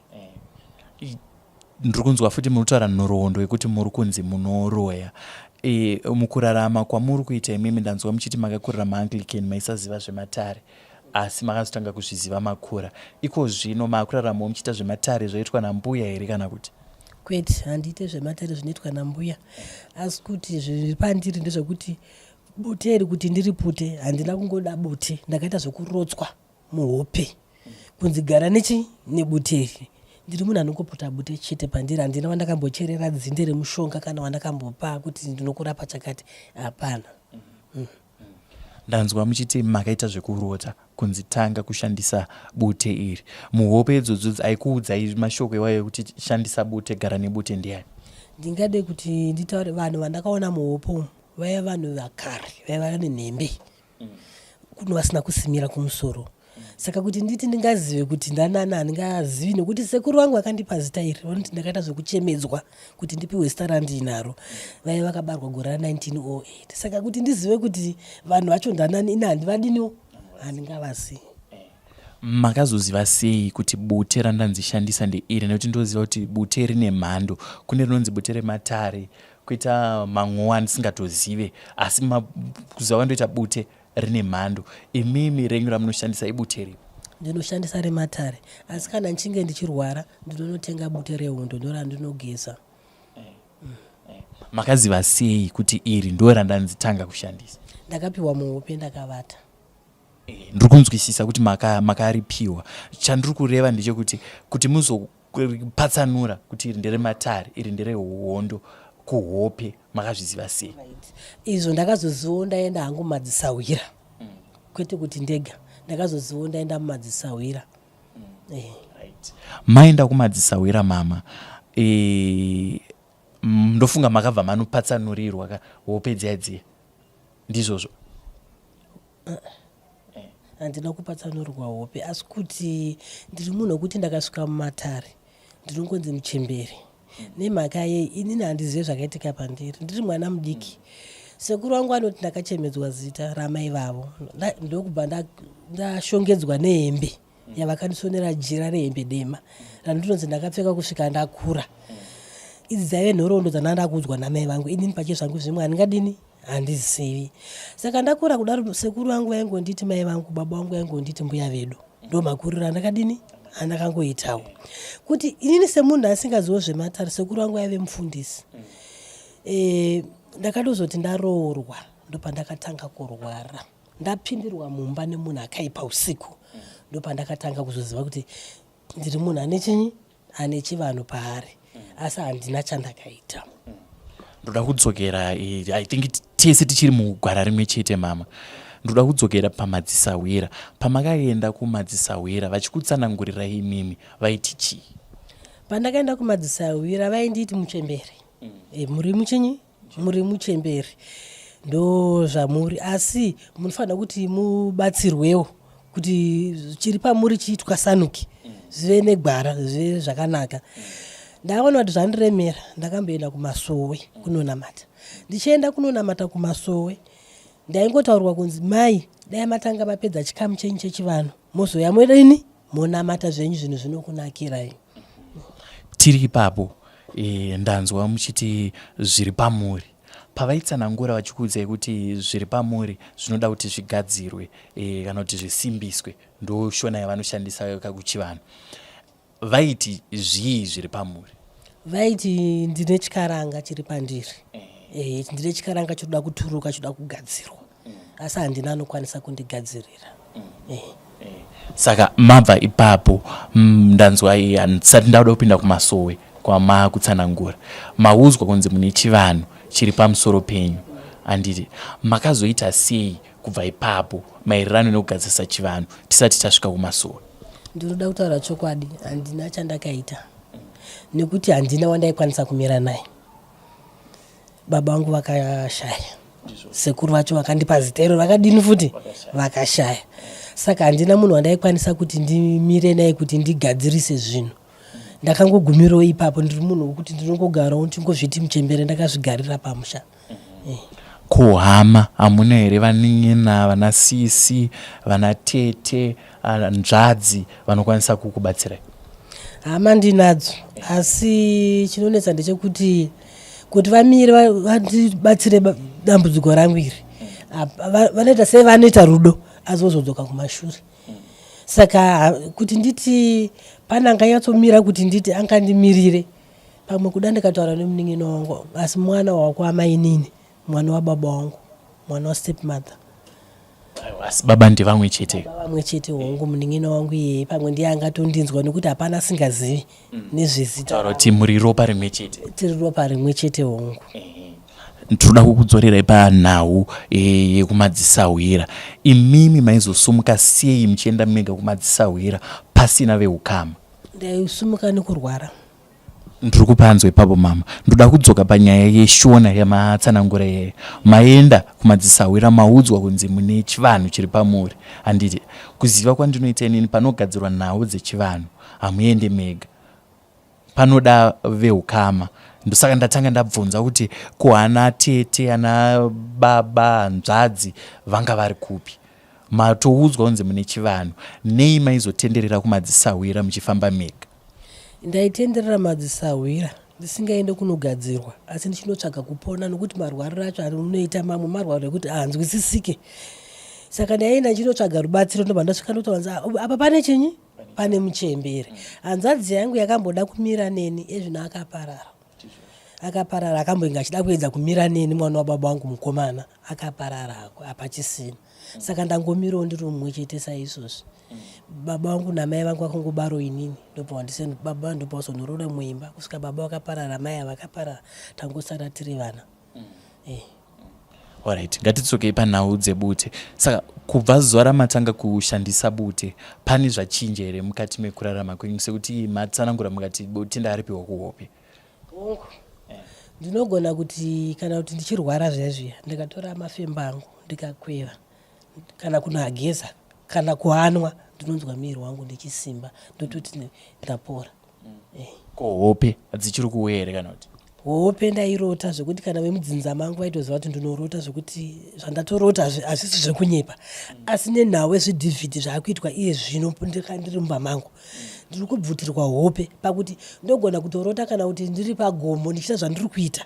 ndiri kunzwa futi munotaura nhoroondo yekuti muri kunzi munoroya e, mukurarama kwamuri kuita imimi ndanzwa muchiti makakurira maanglican maisaziva zvematare asi makazotanga kuzviziva makura iko zvino maakuraramawo muchiita zvematare zvaitwa nambuya here kana kuti kwete handiite zvematare zvinoitwa nambuya asi kuti zviri pandiri ndezvekuti bute iri kuti ndiripute handina kungoda bute ndakaita zvekurotswa muhope kunzi gara nechi nebuteri ndiri munhu anongopota bute chete pandiri handina wandakambocherera dzinde remushonga kana wandakambopa kuti ndinokurapa chakati hapana mm. ndanzwa muchiti makaita zvekurota kunzi tanga kushandisa bute iri muhope idzodzo aikuudzai mashoko iwayo ekuti shandisa bute gara nebute ndiyani ndingade kuti nditaure vanhu vandakaona muhope umu vaiva vanhu vakare vaiva nenhembe kuno vasina kusimira kumusoro saka kuti nditi ndingazive kuti ndanana handingazivi nekuti sekuru vangu vakandipa zita iri vanoti ndakaita zvekuchemedzwa kuti ndipiwe zita randiinaro vaive vakabarwa gore ra 1908 saka kuti ndizive kuti vanhu vacho ndanani ini handivadiniwo handingavasi makazoziva sei kuti bute randanzishandisa ndeiri nekuti ndoziva kuti bute rine mhando kune rinonzi bute rematare kuita manguwa ndisingatozive asi makuziva vandoita bute rine mhando imimi renyu ramunoshandisa ibute ripi ndinoshandisa rematare asi kana ndichinge ndichirwara ndinonotenga bute rehundo ndo randinogeza makaziva sei kuti iri ndo randanzitanga kushandisa ndakapiwa muhope ndakavata eh, ndiri kunzwisisa kuti makaripiwa maka chandiri kureva ndechekuti kuti muzo patsanura kuti iri ndere matare iri ndere hondo kuhope makazviziva sei izvo ndakazozivo ndaenda hangu mumadzisahwira mm. kwete kuti ndega ndakazozivo ndaenda mumadzisahwira mm. eh. maenda kumadzisahwira mama eh, ndofunga makabva manopatsanurirwa ka hope dziya dziya ndizvozvo handina kupatsanurwa hope asi kuti ndiri munhu wekuti ndakasvika mumatare ndinongonzi muchemberi nemhaka yei inini handizive zvakaitika pandiri ndiri mwana mudiki sekuru wangu anoti ndakachemedzwa zita ramai vavo ndokubva ndashongedzwa nehembe yavakandisonera jira rehembe dema randinonzi ndakapfeka kusvika ndakura idzi dzaive nhoroondo dzandanga ndakuudzwa namai vangu inini pache zvangu zvimwe handingadini handizivi saka ndakura kudaro sekuru vangu vaingonditi mai vangu baba vangu vaingonditi mbuya vedu ndo makuriro andakadini andakangoitawo kuti inini semunhu asingaziwo zvematare sekuru vangu vaive mufundisi e, ndakatozoti ndaroorwa ndopandakatanga kurwara ndapindirwa mumba nemunhu akaipa usiku ndopandakatanga kuzoziva kuti ndiri munhu ane chinyi ane chivanhu paari asi handina chandakaita ndoda kudzokera eh, i think tese tichiri mugwara rimwe chete mama ndoda kudzokera pamadzisahwira pamakaenda kumadzisahwira vachikutsanangurira imimi vaiti chii pandakaenda kumadzisahwira vainditi muchembere mm. e, muri muchinyi muri muchemberi ndo zvamuri asi munofanira kuti mubatsirwewo kuti chiri pamuri chiitwasanuke zvive negwara zvive zvakanaka ndakaona kuti zvandiremera ndakamboenda kumasowe kunonamata ndichienda kunonamata kumasowe ndaingotaurirwa kunzi mai dai matanga mapedza chikamu chenyu chechivanhu mozouya morini monamata zvenyu zvinhu zvinokunakirai tiri ipapo e, ndanzwa muchiti zviri pamuri pavaitsanangura vachikuudzai kuti zviri pamuri zvinoda kuti zvigadzirwe e, kana kuti zvisimbiswe ndoshona yavanoshandisa kakuchivanhu vaiti zvii zviri pamuri vaiti ndine chikaranga chiri pandiri eh. Eh, ndine chikaranga chinoda kuturuka chinoda kugadzirwa mm. asi handina anokwanisa kundigadzirira mm. eh. saka mabva ipapo mm, ndanzwa handisati ndauda kupinda kumasowe kwamakutsanangura maudzwa kunzi mune chivanhu chiri pamusoro penyu handiti makazoita sei kubva ipapo maererano nekugadzirisa chivanhu tisati tasvika kumasuwa ndinoda kutaura chokwadi handina chandakaita nekuti handina wandaikwanisa kumira naye baba vangu vakashaya sekuru vacho vakandipa zita iro vakadini futi vakashaya saka handina munhu wandaikwanisa kuti ndimire naye kuti ndigadzirise zvinhu ndakangogumirawo ipapo ndiri munhu wekuti ndinongogarawo ndingozviti muchembere ndakazvigarira pamusha mm. ko hama hamuna here vanin'ina vana sisi vana tete ah, nzvadzi vanokwanisa kukubatsirai hama ndinadzo asi chinonetsa ndechekuti kuti vamire va- vandibatsire ba- dambudziko rangu iri hap- va- vanoita sei vanoita rudo asi vozodzoka kumashure saka ha- kuti nditi pane anganyatsomira kuti nditi angandimirire pamwe kuda ndikataura nemunin'ina wangu asi mwana wakuamainini mwana wababa wangu mwana wastep mother asi baba ndevamwe chete vamwe chete hongu munin'ina wangu iyeye pamwe ndiye angatondinzwa nekuti hapana asingazivi mm. nezvezita kuti muri ropa rimwe chete tiri ropa rimwe chete hongu tinoda kukudzorerai panhau e, yekumadzisahwira imimi maizosumuka sei muchienda mega kumadzisahwira pasina veukama ndaisimuka nekurwara ndiri kupanzwa ipapo mama ndoda kudzoka panyaya yeshona yamatsanangura iyeyo maenda kumadzisahwira maudzwa kunzi mune chivanhu chiri pamuri handiti kuziva kwandinoita inini panogadzirwa nhau dzechivanhu hamuende mega panoda veukama ndosaka ndatanga ndabvunza kuti ko ana tete ana baba hanzvadzi vanga vari kupi matoudzwa kunzi mune chivanhu nei maizotenderera kumadzisahwira muchifamba mega ndaitenderera madzisahwira ndisingaende kunogadzirwa asi ndichinotsvaga kupona nokuti marwariro acho anoita mamwe marwariro ekuti ahanzwisisike saka ndaienda ndichinotsvaga rubatsiro ndobva ndasvika ndotowanza ah, apa pane chinyi pane muchembere hanzadzi yangu yakamboda kumira neni ezvino akaparara akaparara akamboinge achida kuedza kumira neni mwana wababa wangu mukomana akaparara ako apachisina saka ndangomirawo ndiri mumwe chete saizvozvi baba vangu namai vangu vakangobaro inini ndopavandiseni baba ndopavazonoroda muimba kusvika baba vakaparara mai avakaparara tangosara tiri vana Alright, ngatidzokei panhau dzebute. Saka kubva zuva ramatanga kushandisa bute, pane zvachinja here mukati mekurarama kwenyu sekuti matsanangura mukati bute ndaaripiwa kuhope? Hongu. Ndinogona kuti kana kuti ndichirwara zviya zviya ndikatora mafemba angu ndikakweva kana kunoageza kana kuanwa ndinonzwa miri wangu ndichisimba ndototi ndapora. ko hope dzichiri kuuya here kana kuti hope ndairota zvekuti kana vemudzinza mangu vaitoziva kuti ndinorota zvekuti zvandatorota hazvisi zvekunyepa asi nenhau ezvidhivhidhi zvaakuitwa iye zvino ndiri mumba mangu ndiri kubvutirwa hope pakuti ndogona kutorota kana kuti ndiri pagomo ndichiita zvandiri kuita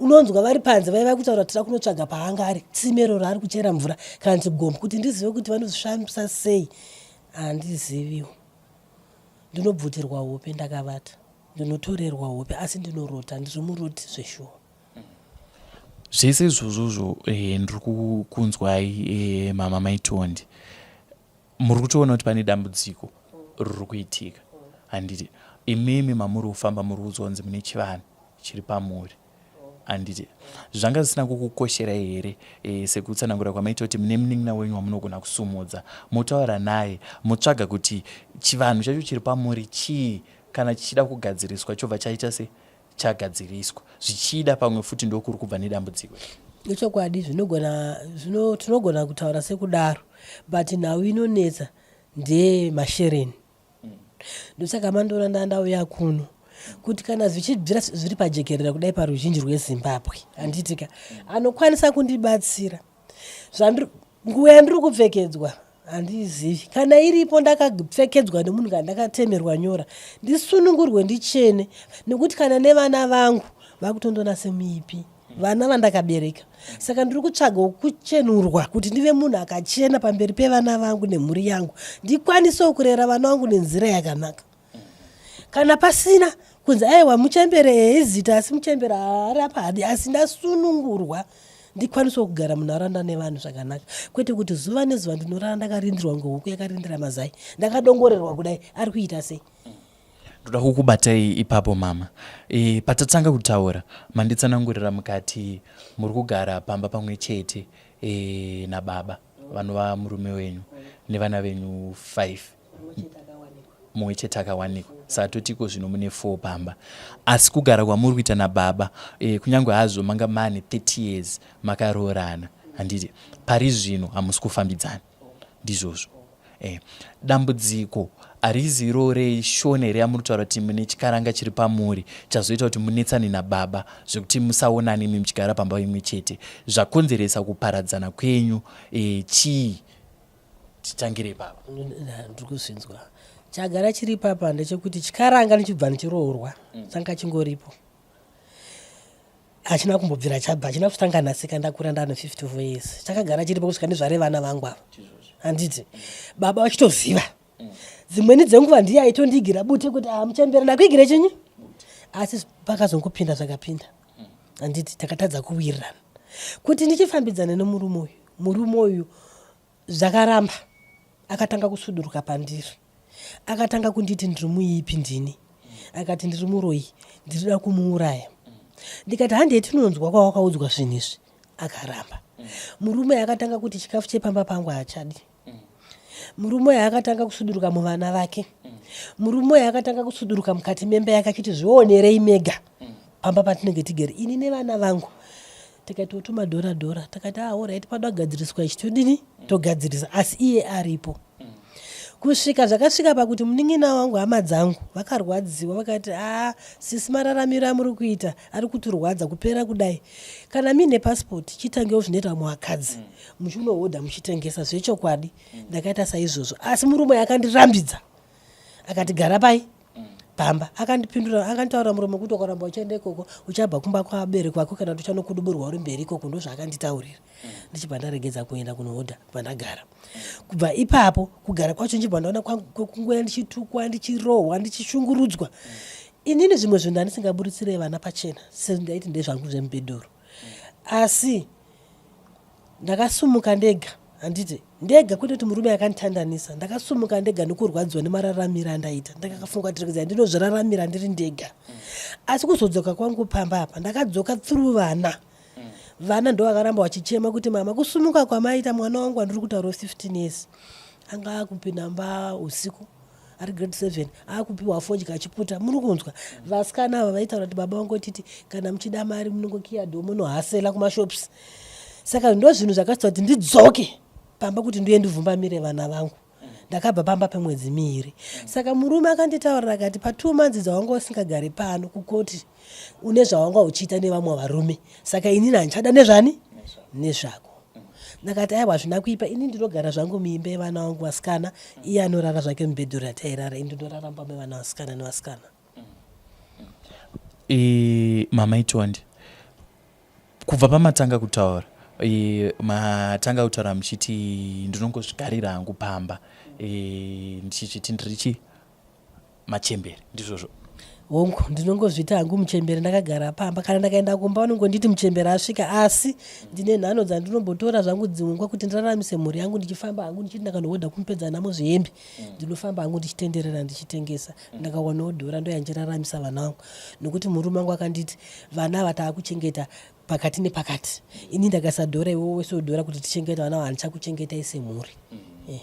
unonzwa vari panze vaiva kutaura tira kunotsvaga paanga ari tsimero raari kuchera mvura kana kuti gomo kuti ndizive kuti vanozvisvambisa sei handiziviwo ndinobvutirwa hope ndakavata ndinotorerwa hope asi ndinorota ndiri muroti zveshuwa zvese izvozvozvo eh, ndiri kukunzwai eh, mama maitondi muri kutoona kuti pane dambudziko riri kuitika handiti imimi mamuri kufamba muri kuudzwa kunzi mune chivanhu chiri pamuri handiti zvanga zvisina kukukosherai here e, sekutsanangura kwamaita kuti mune munin'ina wenyu wamunogona kusumudza motaura naye motsvaga kuti chivanhu chacho chiri pamuri chii kana chichida kugadziriswa chobva chaita se chagadziriswa zvichida pamwe futi ndokuri kubva nedambudziko ichokwadi zvinogona zvino tinogona kutaura sekudaro but nhau inonetsa ndeye mashereni ndosaka mandiona ndaa ndauya kuno kuti kana zvichibvira zviri pajekerera kudai paruzhinji rwezimbabwe handiitika anokwanisa kundibatsira nguva yandiri kupfekedzwa handiizivi kana iripo ndakapfekedzwa nemunhu kana ndakatemerwa nyora ndisunungurwe ndichene nekuti kana nevana vangu vakutondona semuipi vana vandakabereka saka ndiri kutsvaga kuchenurwa kuti ndive munhu akachena pamberi pevana vangu nemhuri yangu ndikwanisewo kurera vana vangu nenzira yakanaka kana pasina kunzi aiwa muchembere eizita asi muchembere haari apa hadi asi ndasunungurwa ndikwanisewo kugara munharaunda nevanhu zvakanaka kwete kuti zuva nezuva ndinorara ndakarindirwa ngehuku yakarindira mazai ndakadongorerwa kudai ari kuita sei ndoda kukubatai ipapo mama e, patatanga kutaura manditsanangurira mukati muri kugara pamba pamwe chete e, nababa vanova murume wenyu nevana venyu five mumwe chete akawanikwa saka totiko zvino mune four pamba asi kugara kwamuri kuita nababa e, kunyange hazvo manga mane 30 years makaroorana handiti pari zvino hamusi kufambidzana ndizvozvo eh, dambudziko harizi iro reshona here yamunotaura kuti mune chikaranga chiri pamuri chazoita kuti munetsane nababa zvekuti musaonani imi muchigara pamba imwe chete zvakonzeresa kuparadzana kwenyu e, chii titangire papa ndiri kuzvinzwa chagara chiri papa ndechekuti chikaranga ndichibva ndichiroorwa mm. changa chingoripo hachina kumbobvira chabva hachina kutanga nhasika ndakura ndane 54 years chakagara chiripo kusvika ndizvare vana vangu ava handiti baba vachitoziva dzimweni dzenguva ndiye aitondigira bute kuti hamuchembere ah, ndakuigire chinyi asi pakazongopinda zvakapinda handiti takatadza kuwirirana kuti ndichifambidzana nemurume uyu murume uyu zvakaramba akatanga kusuduruka pandiri akatanga kunditi ndiri muipi ndini akati ndiri muroyi ndiriuda kumuuraya ndikati handei tinonzwa kwawakaudzwa zvinhu izvi akaramba murume akatanga kuti chikafu chepamba pangu haachadi murume uyo akatanga kusuduruka muvana vake murume uyo akatanga kusuduruka mukati memba yake achiti zvionerei mega pamba patinenge tigere ini nevana vangu tikati wotuma dhora dhora takati ah, orit panoda kugadziriswa ichi todini togadzirisa asi iye aripo kusvika zvakasvika pakuti munin'ina wangu hama dzangu vakarwadziwa vakati aa ah, sisi mararamiro amuri kuita ari kutirwadza kupera kudai kana miine pasipoti chitangewo zvinoita vamwe vakadzi mm. muchinohodha muchitengesa zvechokwadi ndakaita saizvozvo asi murume akandirambidza akati gara pai pamba akandipindura akanditaura murume kuti ukaramba uchienda ikoko uchabva kumba kwabereki vako kana kuti uchanokuduburwa uri mberi ikoko ndozvaakanditaurira ndichibva ndaregedza kuenda kunohodha pandagara kubva ipapo kugara kwacho ndichibva ndaona kungoya ndichitukwa ndichirohwa ndichishungurudzwa inini zvimwe zvinhu andisingaburitsire vana pachena sezvindaiti ndezvangu zvemubhedhuru asi ndakasumuka ndega handiti ndega kwete kuti murume akanditandanisa ndakasumuka ndega nekurwadziwa nemararamiro andaita ndakakafunga kuti rekedzai ndinozviraramira ndiri ndega asi kuzodzoka kwangu pamba apa ndakadzoka through vana vana ndo vakaramba vachichema kuti mama kusumuka kwamaita mwana wangu andiri kutaura 15 years anga akupinda mba usiku ari grade seven akupiwa fodya achiputa muri kunzwa vasikana ava vaitaura kuti baba vangu titi kana muchida mari munongokiya dho munohasela kumashops saka ndo zvinhu zvakaita kuti ndidzoke pamba kuti ndiye ndivhumbamire vana vangu ndakabva pamba pemwedzi miiri saka murume akanditaurira akati patwo manzi dzawanga usingagari pano kukoti une zvawanga uchiita nevamwe varume saka inini handichada nezvani nezvako ndakati aiwa hazvina kuipa ini ndinogara zvangu muimba yevana vangu vasikana iye anorara zvake mubhedhuri atairara ini ndinorara mumba mevana vasikana nevasikana e, mama itondi kubva pamatanga kutaura e, matanga kutaura muchiti ndinongozvigarira hangu pamba e, ndichichiti ndirichi machembere ndizvozvo hongu ndinongozviita hangu muchembere ndakagara pamba kana ndakaenda kumba vanongonditi muchembere asvika asi ndine nhano dzandinombotora zvangu dzimungwa kuti ndiraramise mhuri yangu ndichifamba hangu ndichiti ndakanohodha kumupedza namo zvihembe mm. ndinofamba hangu ndichitenderera ndichitengesa mm. ndakawanawo dhora ndoyanjiraramisa vana vangu nokuti murume wangu akanditi vana ava taakuchengeta pakati nepakati ini ndakasadhora iwe wese udhora kuti tichengeta vana ava handichakuchengetai semhuri mm. yeah.